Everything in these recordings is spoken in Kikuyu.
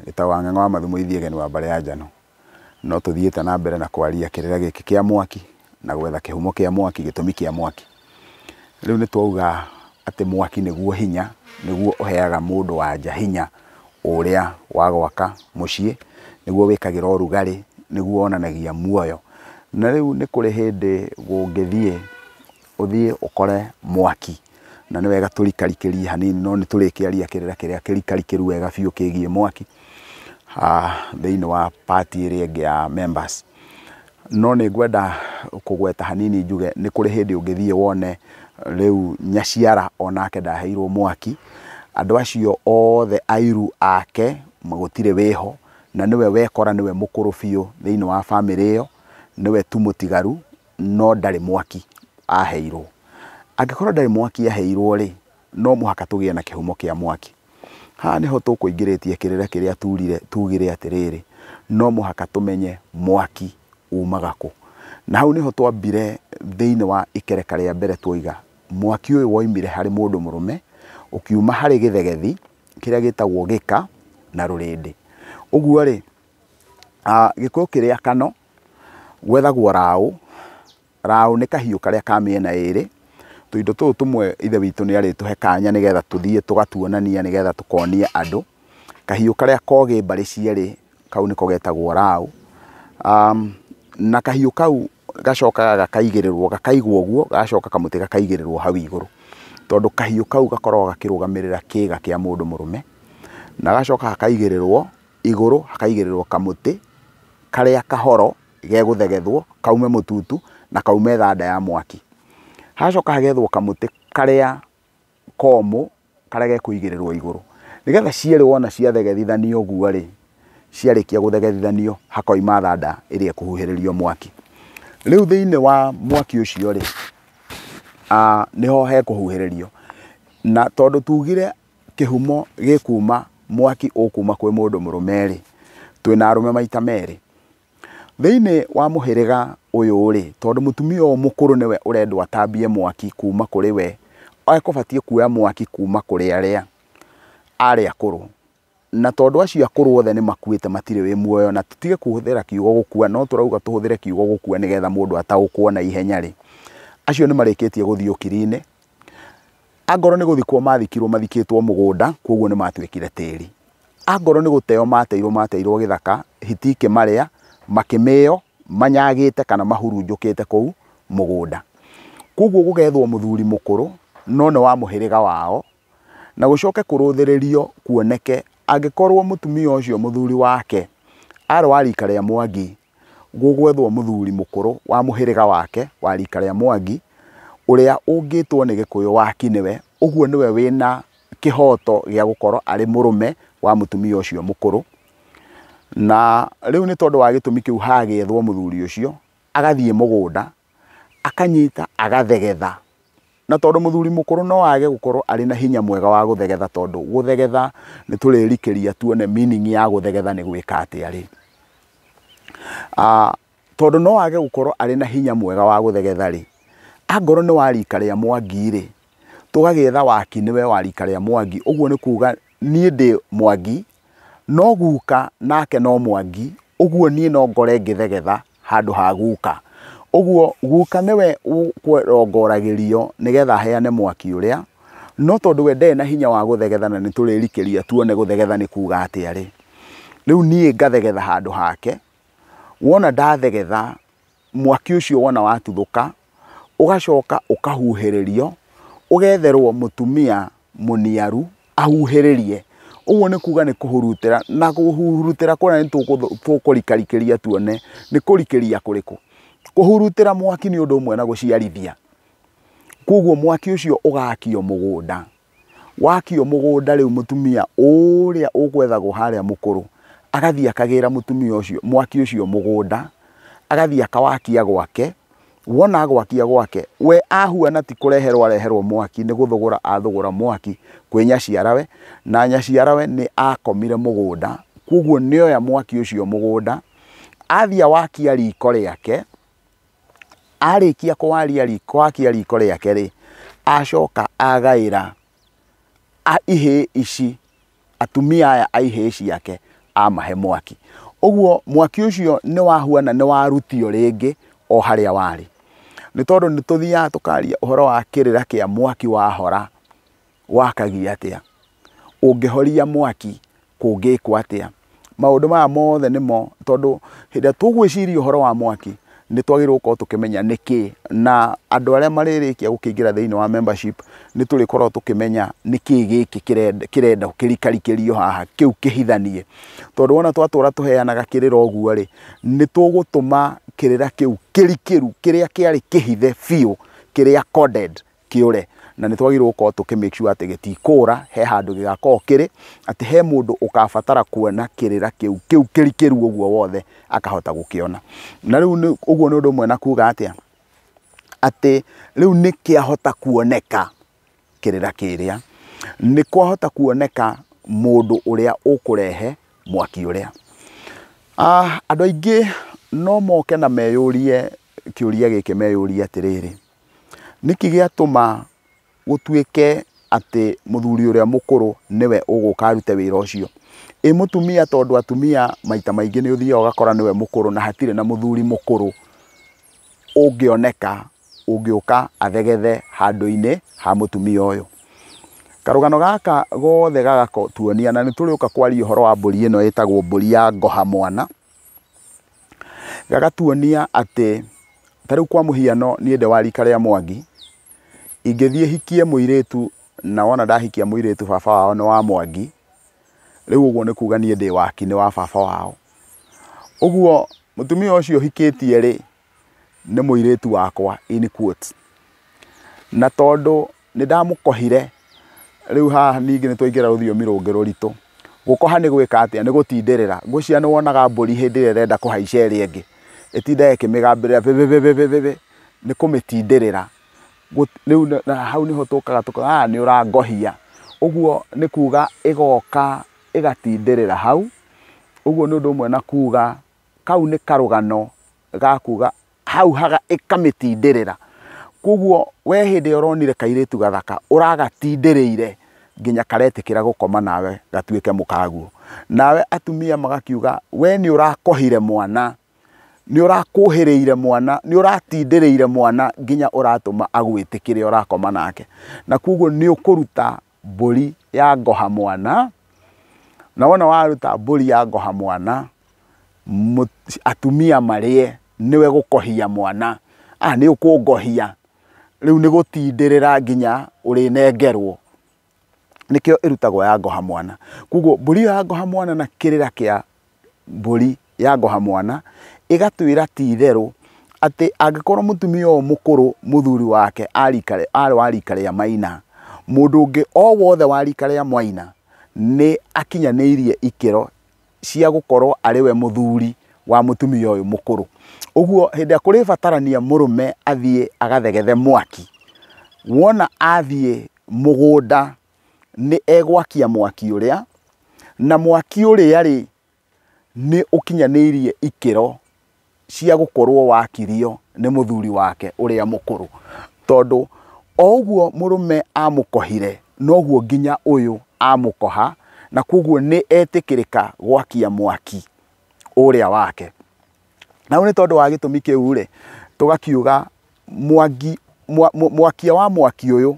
Gĩtaũ wa Ng'eng'o wa Mathu Mũithi Egeni wa Mbare ya Njano, no tũthiĩte na mbere na kwaria kĩrĩra gĩkĩ kĩa mwaki na gwetha kĩhumo kĩa mwaki, gĩtũmi kĩa mwaki. Rĩu nĩ twauga atĩ mwaki nĩguo hinya, nĩguo ũheaga mũndũ anja hinya ũrĩa wa gwaka mũciĩ, nĩguo wĩkagĩra ũrugarĩ, nĩguo wonanagia muoyo. Na rĩu nĩ kũrĩ hĩndĩ gũngĩthiĩ Ũthiĩ ũkore mwaki, na nĩ wega tũrikarikĩrie hanini, no nĩ tũrĩkĩaria kĩrĩra kĩrĩa kĩrikarikĩru wega biũ kĩgiĩ mwaki, thĩinĩ wa part ĩrĩa ĩngĩ ya members. No nĩ ngwenda kũgweta hanini njuge, nĩ kũrĩ hĩndĩ ũngĩthiĩ wone rĩu nyaciara o nake ndaheirwo mwaki, andũ acio othe airũ ake gũtirĩ wĩho, na nĩwe wekora nĩwe mũkũrũ biũ thĩinĩ wa bamĩrĩ ĩyo, nĩwe tu mũtigaru. no ndarĩ mwaki aheirwo. Angĩkorwo ndarĩ mwaki aheirwo rĩ, no mũhaka tũgĩe na kĩhumo kĩa mwaki. Haha nĩho tũkũingĩrĩtie kĩrĩra kĩrĩa turire tugire atĩrĩrĩ, no mũhaka tũmenye mwaki umaga kũ. Na hau nĩho twambire thĩinĩ wa ikereka rĩa mbere tuoiga, mwaki ũyũ woimire harĩ mũndũ mũrũme, ũkiuma harĩ gĩthegethi kĩrĩa gĩtagwo gĩka na rũrĩndĩ. Ũguo rĩ, gĩkũyũ kĩrĩa kano Gwethagwo raũ, raũ nĩ kahiũ karĩa ka mĩena ĩrĩ, tũindo tũtũ tũmwe Ithe witũ nĩ arĩtũhe kanya nĩgetha tũthiĩ tũgatuonania nĩgetha tũkonia andũ. Kahiũ karĩa kogĩ mbarĩ cierĩ kau nĩko getagwo raũ. Na kahiũ kau gacokaga gakaigĩrĩrwo, gakaigwo ũguo, gagacoka kamũtĩ gakaigĩrĩrwo hau igũrũ, tondũ kahiũ kau gakoragwo gakĩrũgamĩrĩra kĩga kĩa mũndũ mũrũme, na gagacoka gakaigĩrĩrwo. Igũrũ hakaigĩrĩrwo kamũtĩ karĩa kahoro gegũthegethwo kaume mũtutu na kaume thanda ya mwaki. Hagacoka hagethwo kamũtĩ karĩa komũ karĩa gekũigĩrĩrwo igũrũ. Nĩgetha cierĩ wona ciathegethithanio ũguo rĩ, ciarĩkia gũthegethithanio hakoima thanda ĩrĩa ĩkũhuhĩrĩrio mwaki. Rĩu thĩinĩ wa mwaki ũcio rĩ, nĩho hekũhuhĩrĩrio. Na tondũ tugire kĩhumo gĩkuuma mwaki ũkuuma kwĩ mũndũ mũrũme-rĩ, twĩna arũme maita merĩ. Thĩinĩ wa mũhĩrĩga ũyũ-rĩ, tondũ mũtumia ũyũ mũkũrũ nĩwe ũrendwo atambie mwaki kuuma kũrĩ we, ekũbatiĩ kuoya mwaki kuuma kũrĩ arĩa arĩ akũrũ. Na tondũ acio akũrũ othe nĩ makuĩte matirĩ wĩ muoyo, na tũtige kũhũthĩra kiugo gũkua, no tũrauga tũhũthĩre kiugo gũkua nĩgetha mũndũ ataũkwo naihenya-rĩ, acio nĩ marĩkĩtie gũthiĩ ũkiri-inĩ. Angorwo nĩ gũthikwo maathikirwo mathikĩtwo mũgũnda, kwoguo nĩ maatuĩkire tĩri. Angorwo nĩ gũteyo maateirwo maateirwo gĩthaka, hiti ikĩmarĩa, makĩmĩyo manyagĩte kana mahurunjũkĩte kũu mũgũnda. Kwoguo gũgethwo mũthuri mũkũrũ no nĩ wa mũhĩrĩga wao, na gũcoke kũrũthĩrĩrio kuoneke angĩkorwo mũtumia ũcio mũthuri wake arĩ wa rika rĩa Mwangi, gũgwethwo mũthuri mũkũrũ wa mũhĩrĩga wake wa rika rĩa Mwangi ũrĩa ũngĩtwo nĩ Gĩkũyũ wa ki nĩwe, ũguo nĩwe wĩna kĩhoto gĩa gũkorwo arĩ mũrũme wa mũtumia ũcio mũkũrũ. Na rĩu nĩ tondũ wa gĩtũmi kĩu hagĩethwo mũthuri ũcio agathiĩ mũgũnda akanyita agathegetha. Na tondũ mũthuri mũkũrũ no age gũkorwo arĩ na hinya mwega wa gũthegetha tondũ gũthegetha nĩ tũrerikĩria tuone meaning ya gũthegetha nĩ gwĩka atĩa rĩ. Tondũ no age gũkorwo arĩ na hinya mwega wa gũthegetha rĩ, angorwo nĩ wa rika rĩa Mwangi rĩ, tũgagĩetha wakiri nĩwe wa rika rĩa Mwangi, ũguo nĩ kuga niĩ ndĩ Mwangi No guka nake no mwangi, ũguo niĩ no ngore ngĩthegetha handũ ha guka. Ũguo guka nĩwe ũrongoragĩrio nĩgetha aheane mwaki ũrĩa, no tondũ we ndarĩ na hinya wa gũthegetha na nĩ tũrĩrikĩria tuone gũthegetha nĩ kuuga atĩa rĩ, rĩu niĩ ngathegetha handũ hake, wona ndathegetha... mwaki ũcio wona watuthũka, ũgacoka ũkahuhĩrĩrio, ũgetherwo mũtumia mũniaru ahuhĩrĩrie. Ũguo nĩ kuga nĩ kũhurutĩra, na kũhurutĩra kũrĩa nĩ tũkũrikarikĩria tuone nĩ kũrikĩria kũrĩkũ. Kũhurutĩra mwaki nĩ ũndũ ũmwe na gũciarithia. Koguo mwaki ũcio ũgakio mũgũnda. wakio mũgũnda rĩu mũtumia ũrĩa ũgwethagwo harĩa mũkũrũ agathiĩ akagĩra mũtumia ũcio mwaki ũcio mũgũnda, agathiĩ akawakia gwake, wona agwakia gwake, we ahuana ti kũreherwo areherwo mwaki nĩ gũthũgũra athũgũra mwaki kwĩ nyaciarawe, na nyaciarawe nĩ akomire mũgũnda, kwoguo nĩ oya mwaki ũcio mũgũnda, athiĩ awakia riko rĩake. arĩkia kwaria gwakia riko rĩake rĩ, acoka agaĩra ihĩĩ ici, atumia aya a ihĩĩ ciake amahe mwaki. Ũguo mwaki ũcio nĩ wahuana nĩ warutio rĩngĩ o harĩa warĩ. Nĩ tondũ nĩ tũthiaga tũkaria ũhoro wa kĩrĩra kĩa mwaki wahora. wakagia atĩa, ũngĩhoria mwaki kũngĩkwo atĩa. Maũndũ maya mothe nĩmo tondũ hĩndĩ ĩrĩa tũgwĩciria ũhoro wa mwaki nĩ twagĩrĩirwo gũkorwo tũkĩmenya nĩkĩ na andũ arĩa marĩrĩkia gũkĩingĩra thĩinĩ wa membership nĩ tũrĩkoragwo tũkĩmenya nĩkĩ gĩkĩ kĩrenda kĩrikarikirio haha kĩu kĩhithanie. Tondũ wona twatũra tũheanaga kĩrĩra ũguo rĩ, nĩ tũgũtũma kĩrĩra kĩu kĩrikĩru kĩrĩa kĩarĩ kĩhithe biũ kĩrĩa coded kĩũre na nĩ twagĩrĩirwo gũkorwo tũkĩ make sure atĩ gĩtikũra, he handũ gĩgakorwo kĩrĩ, atĩ he mũndũ ũkabatara kuona kĩrĩra kĩu, kĩu kĩrikĩru ũguo wothe akahota gũkĩona. Na rĩu ũguo nĩ ũndũ ũmwe na kuga atĩa, atĩ rĩu nĩ kĩahota kuoneka kĩrĩra kĩrĩa, nĩ kwahota kuoneka mũndũ ũrĩa ũkũrehe mwaki ũrĩa. Andũ aingĩ no moke na meyũrie kĩũria gĩkĩ meyũrie atĩrĩrĩ, Nĩkĩ gĩatũma gũtuĩke atĩ mũthuri ũrĩa mũkũrũ nĩwe ũgũka arute wĩra ũcio? Ĩ mũtumia tondũ atumia maita maingĩ nĩ ũthiaga ũgakora nĩwe mũkũrũ na hatirĩ na mũthuri mũkũrũ ũngĩoneka ũngĩũka athegethe handũ-inĩ ha mũtumia ũyũ. Karũgano gaka gothe gagatuonia na nĩ tũrĩũka kwaria ũhoro wa mbũri ĩno ĩtagwo mbũri ya ngoha mwana. gagatuonia atĩ ta rĩu kwa mũhiano niĩ ndĩ wa rika rĩa Mwangi, ingĩthiĩ hikie mũirĩtu na wona ndahikia mũirĩtu baba wao nĩ wa Mwangi, rĩu ũguo nĩ kuga niĩ ndĩ wa ki nĩ wa baba wao. Ũguo mũtumia ũcio hikĩtie rĩ, nĩ mũirĩtu wakwa in quotes. Na tondũ nĩ ndamũkohire, rĩu haha ningĩ nĩ twaingĩra rũthiomi rũngĩ rũritũ. Gũkoha nĩ gwĩka atĩa? Nĩ gũtindĩrĩra. Ngwĩciria nĩ wonaga mbũri hĩndĩ ĩrĩa ĩrenda kũhaica ĩrĩa ĩngĩ, ĩtindaga ĩkĩmĩgambĩrĩra vĩvĩvĩvĩvĩvĩ, nĩ kũmĩtindĩrĩra. Rĩu hau nĩho tũkaga tũkauga haha nĩ ũrangohia. Ũguo nĩ kuuga ĩgoka ĩgatindĩrĩra hau. Ũguo nĩ ũndũ ũmwe na kuuga kau nĩ karũgano ga kuga hau haga ĩkamĩtindĩrĩra. Kwoguo we hĩndĩ ĩrĩa ũronire kairĩtu gathaka ũragatindĩrĩire nginya karetĩkĩra gũkoma nawe gatuĩke mũkaguo. Nawe atumia magakiuga we nĩ ũrakohire mwana, nĩ ũrakuhĩrĩire mwana, nĩ ũratindĩrĩire mwana nginya ũratũma agwĩtĩkĩre ũrakoma nake. Na kwoguo nĩ ũkũruta mbũri ya ngoha mwana, na wona waruta mbũri ya ngoha mwana, atumia marĩe, nĩwe gũkohia mwana, a nĩ ũkũngohia, rĩu nĩ gũtindĩrĩra nginya ũrĩnengerwo, nĩkĩo ĩrutagwo ya ngoha mwana. Koguo mbũri ĩyo ya ngoha mwana na kĩrĩra kĩa... mbũri yangoha mwana, ĩgatwĩra ti itherũ atĩ angĩkorwo mũtumia ũyũ mũkũrũ mũthuri wake arĩ wa rika rĩa maina, mũndũ ũngĩ o wothe wa rika rĩa mwaina nĩ akinyanĩirie ikĩro cia gũkorwo arĩ we mũthuri wa mũtumia ũyũ mũkũrũ. Ũguo hĩndĩ ĩrĩa kũrĩbatarania mũrũme athiĩ agathegethe mwaki, wona athiĩ mũgũnda nĩ egwakia mwaki ũrĩa, na mwaki ũrĩa rĩ, nĩ ũkinyanĩirie ikĩro cia gũkorwo wakirio nĩ mũthuri wake ũrĩa mũkũrũ. Tondũ o ũguo mũrũme amũkohire, noguo nginya ũyũ amũkoha, na kũguo nĩ etĩkĩrĩka gwakia mwaki ũrĩa wake. Na rĩu nĩ tondũ wa gĩtũmi kĩu-rĩ, tũgakiuga mwangi, mwa, mwa, mwakia wa mwaki ũyũ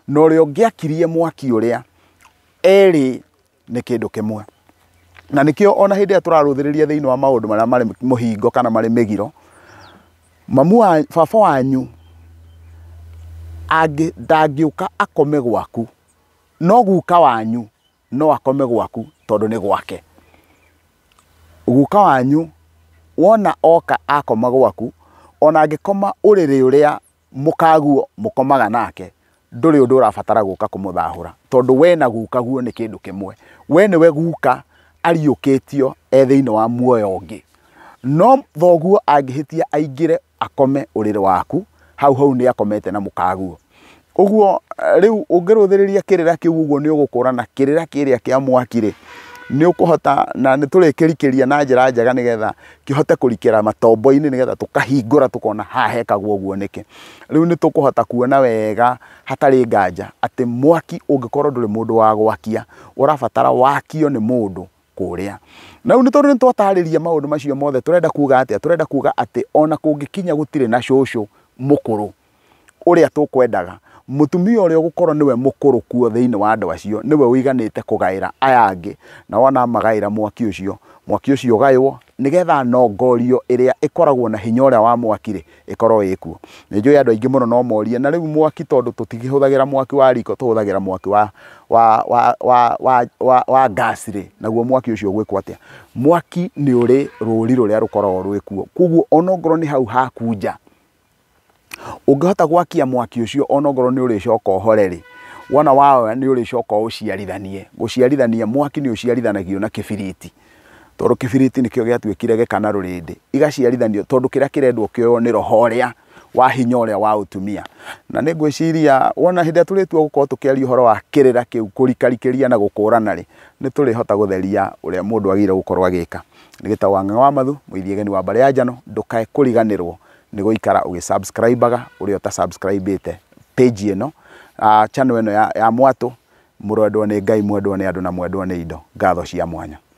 na ũrĩa ũngĩakirie mwaki ũrĩa erĩ nĩ kĩndũ kĩmwe. Na nĩkĩo ona hĩndĩ ĩrĩa tũrarũthĩrĩria thĩinĩ wa maũndũ marĩa marĩ mũhingo kana marĩ mĩgiro, mamu wa, baba wanyu angĩ, ndangĩũka akome gwaku, no guka wanyu no akome gwaku tondũ nĩ gwake. Guka wanyu wona oka akoma gwaku, ona angĩkoma ũrĩrĩ ũrĩa mũkaguo mũkomaga nake, ndũrĩ ũndũ ũrabatara gũka kũmũthahũra tondũ we na gukaguo nĩ kĩndũ kĩmwe. We nĩwe guka ariũkĩtio e thĩiniĩ wa muoyo ũngĩ. No thoguo angĩhĩtia aingĩre akome ũrĩrĩ waku hau hau nĩ akomete na mũkaguo ũguo eh, rĩu ũngĩrũthĩrĩria kĩrĩra kĩu ũguo nĩ ũgũkũrana kĩrĩra kĩrĩa kĩa mwaki rĩ nĩ ũkũhota na nĩ tũrĩkĩrikĩria na njĩra njega nĩgetha kĩhote kũrikĩra matombo-inĩ nĩgetha tũkahingũra tũkona haha hekagwo ũguo nĩkĩ rĩu nĩ tũkũhota kuona wega hatarĩ nganja atĩ mwaki ũngĩkorwo ndũrĩ mũndũ wa gwakia ũrabatara wakio nĩ mũndũ kũrĩa. Na rĩu nĩ tondũ nĩ twatarĩria maũndũ macio mothe tũrenda kuga atĩa? Tũrenda kuga atĩ ona kũngĩkinya gũtirĩ na cũcũ mũkũrũ ũrĩa tũkwendaga, mũtumia ũrĩa ũgũkorwo nĩwe mũkũrũ kuo thĩinĩ wa andũ acio nĩwe ũiganĩte kũgaĩra aya angĩ, na wona amagaĩra mwaki ũcio, mwaki ũcio ũgaywo nĩgetha nongorio ĩrĩa ĩkoragwo na hinya ũrĩa wa mwaki rĩ ĩkorwo ĩ kuo nĩ njũĩ andũ aingĩ mũno no morie na rĩu mwaki tondũ tũtigĩhũthagĩra mwaki wa riko tũhũthagĩra mwaki wa wa wa wa wa wa, wa gas rĩ naguo mwaki ũcio gwĩkwo atĩa mwaki nĩ ũrĩ rũri rũrĩa rũkoragwo rwĩ kuo koguo onokorwo nĩ hau haku nja ũngĩhota gwakia mwaki ũcio onokorwo nĩ ũrĩcoka ũhore rĩ, wona wahora nĩ ũrĩcoka ũũciarithanie. Gũciarithania, mwaki nĩ ũciarithanagio na kĩbiriti, tondũ kĩbiriti nĩkĩo gĩatuĩkire gĩka na rũrĩndĩ, igaciarithanio tondũ kĩrĩa kĩrendwo kĩoywo nĩ roho ũrĩa wa hinya ũrĩa wa ũtumia. Na nĩ ngwĩciria wona hĩndĩ ĩrĩa tũrĩtua gũkorwo tũkĩaria ũhoro wa kĩrĩra kĩu, kũrikarikĩria na gũkũrana rĩ, nĩ tũrĩhota gũtheria ũrĩa mũndũ agĩrĩire gũkorwo agĩka. Nĩ gĩtagwo Ang'ang'a wa Mathu, mũithia ageni wa mbarĩ ya njano, ndũkae kũriganĩrwo. nĩ gũikara ũgĩ subscribaga ũrĩa ũta subscribĩte page ĩno ah, channel ĩno ya, ya mwatũ mũrwendwo nĩ ngai mwendwo nĩ andũ na mwendwo nĩ indo ngatho cia mwanya